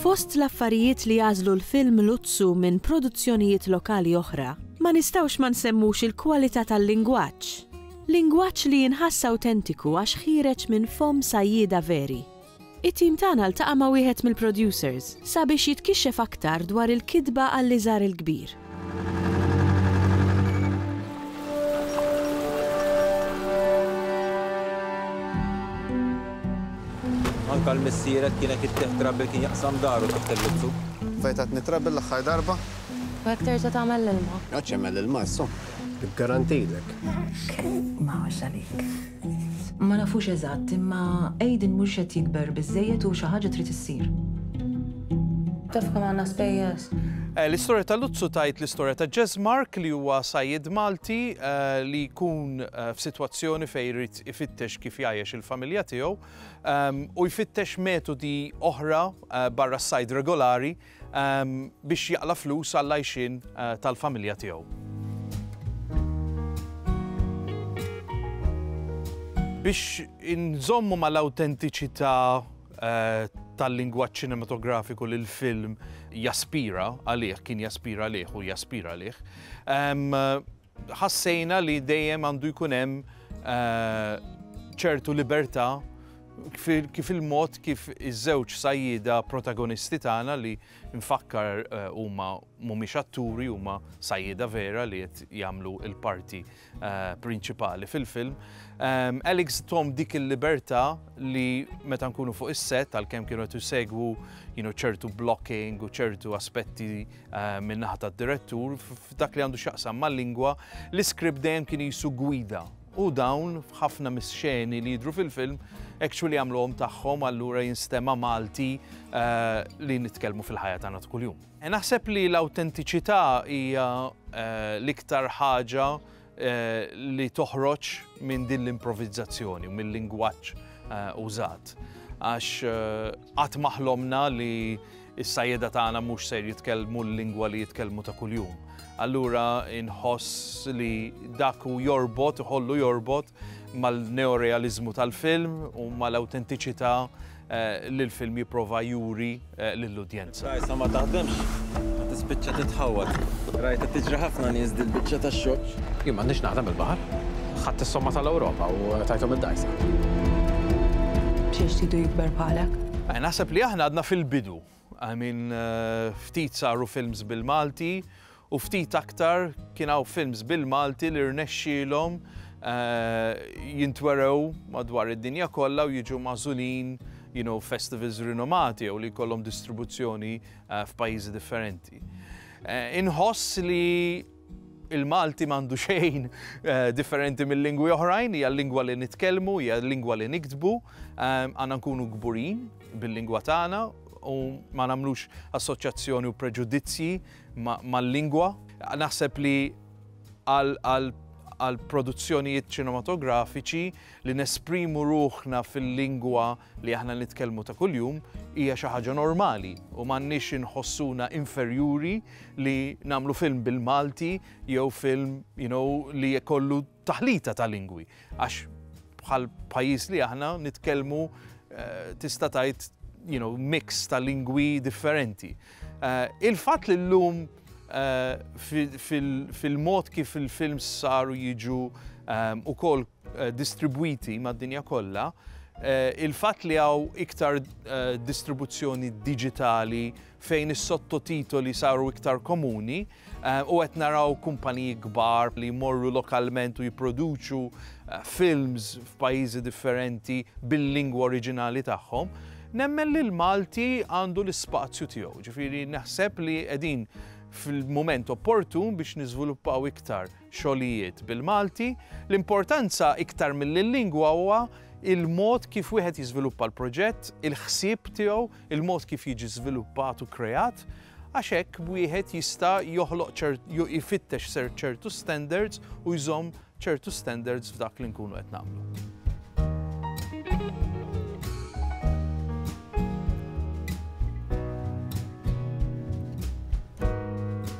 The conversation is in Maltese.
Fost l-affarijiet li jagħżlu l-film Luzzu minn produzzjonijiet lokali oħra, ma nistgħux ma nsemmux il-kwalità tal-lingwaġġ. Lingwaġġ li jinħass awtentiku għax ħiereġ minn fomm sajjieda veri. It-tim tagħna ltaqa' ma' wieħed mill-producers sabiex jitkixxef aktar dwar il-kitba għall-iżgħar il-kbir. Anke l-missiered kien hekk it-tieħ trouble kien jaqsam daru taħt il-lubtu. Fejn tatni trouble l-aħħar darba? Hekk terġa' tagħmel l-ilma? Għadx jagħmel l-ilma issa. Garantilek. Ma għax għalik. Ma nafux eżatt, imma Aiden mhux qed jikber biżżejjed u xi ħaġa trid issir. Taf kemm għandna spejjeż? Eh, l-istorja ta' Luzzu tajt l-istorja ta' Jazz Mark li huwa sajjed Malti eh, li jkun eh, f'sitwazzjoni fejn jrid ifittex kif jgħajjex il-familja tiegħu ehm, u jfittex metodi oħra barra s-sajd regolari biex jaqla' flus għall-għajxien tal-familja tiegħu. Biex inżommu mal-awtentiċità tal-lingwaġġ ċinematografiku li l-film jaspira għalih, kien jaspira għalih u jaspira għalih, Ħassejna li dejjem għandu jkun hemm ċertu libertà kif il-mod kif iż-żewġ sajjieda protagonisti tagħna li nfakkar huma mhumiex atturi huma sajjieda vera li qed jagħmlu l-parti prinċipali fil-film. Alex thom dik il-libertà li meta nkunu fuq is-set għalkemm kienu qed isegwu ċertu blocking u ċertu aspetti Eh, min-naħa tad-direttur f'dak li għandu x'jaqsam mal-lingwa, l-iskript dejjem kien jisu gwida. U dawn ħafna mis-xeni li jidru fil-film actually għamluhom tagħhom allura jinstema' Malti eh, li nitkellmu fil-ħajja tagħna kuljum. Eh, naħseb li l-awtentiċità hija l-iktar ħaġa Eh, li toħroġ minn din l-improvizzazzjoni u mill-lingwaġġ eh, użat. Għax eh, qatt maħlomna li s-sajjeda tagħna mhux ser jitkellmu l-lingwa li jitkellmu ta' kuljum. Allura inħoss li dak u jorbot, iħollu jorbot mal-neorealizmu tal-film u mal-autentiċità li l-film jipprova juri lill-udjenza. Rajtha ma taħdemx, u tispiċċa titħawwad. Rajtha tiġri ħafna nies dil-biċċa tax-xogħol. Jien m'għandix naħdem bil-baħar. Ħadt is-somma tal-Ewropa u tajthom id-dgħajsa. B'xiex tridu jikber bħalek? Naħseb li aħna għadna fil-bidu. I mean, ftit saru films bil-Malti u ftit aktar kien hawn films bil-Malti li rnexxielhom jintwerew madwar id-dinja kollha u jiġu magħżulin you know, festivals rinomati jew li jkollhom distribuzzjoni f'pajjiżi differenti. Inħoss li Il-Malti m'għandu xejn differenti mil-lingwi oħrajn, hija l-lingwa li nitkellmu, hija l-lingwa li niktbu, għandna nkunu kburin bil-lingwa tagħna u ma nagħmlux assoċjazzjoni u preġudizzji mal-lingwa. Naħseb li għall-produzzjonijiet ċinematografiċi Li nesprimu ruħna fil-lingwa li aħna nitkellmu ta' kuljum hija xi ħaġa normali u m'għandniex inħossuna inferjuri li nagħmlu film bil-Malti jew film you know, li jkollu taħlita ta' lingwi. Għax bħal pajjiż li aħna nitkellmu eh, tista' tgħid you know, mix ta' lingwi differenti. Uh, Il-fatt li llum uh, fil-mod fil kif il-films saru jiġu um, ukoll distribwiti mad-dinja kollha, il-fatt li hawn iktar distribuzzjoni diġitali fejn is-sottotitoli saru iktar komuni u qed naraw kumpaniji kbar li jmorru lokalment u jipproduċu films f'pajjiżi differenti bil-lingwa oriġinali tagħhom, nemmen li l-Malti għandu l-ispazju tiegħu. Ġifieri naħseb li qegħdin fil-mument opportun biex niżviluppaw iktar. xogħlijiet bil-Malti, l-importanza iktar milli l-lingwa huwa l-mod kif wieħed jiżviluppa l-proġett, il-ħsieb tiegħu, il-mod kif jiġi żviluppat u kreat, għax hekk wieħed jista' joħloq jfittex ċertu standards u jżomm ċertu standards f'dak li nkunu qed nagħmlu.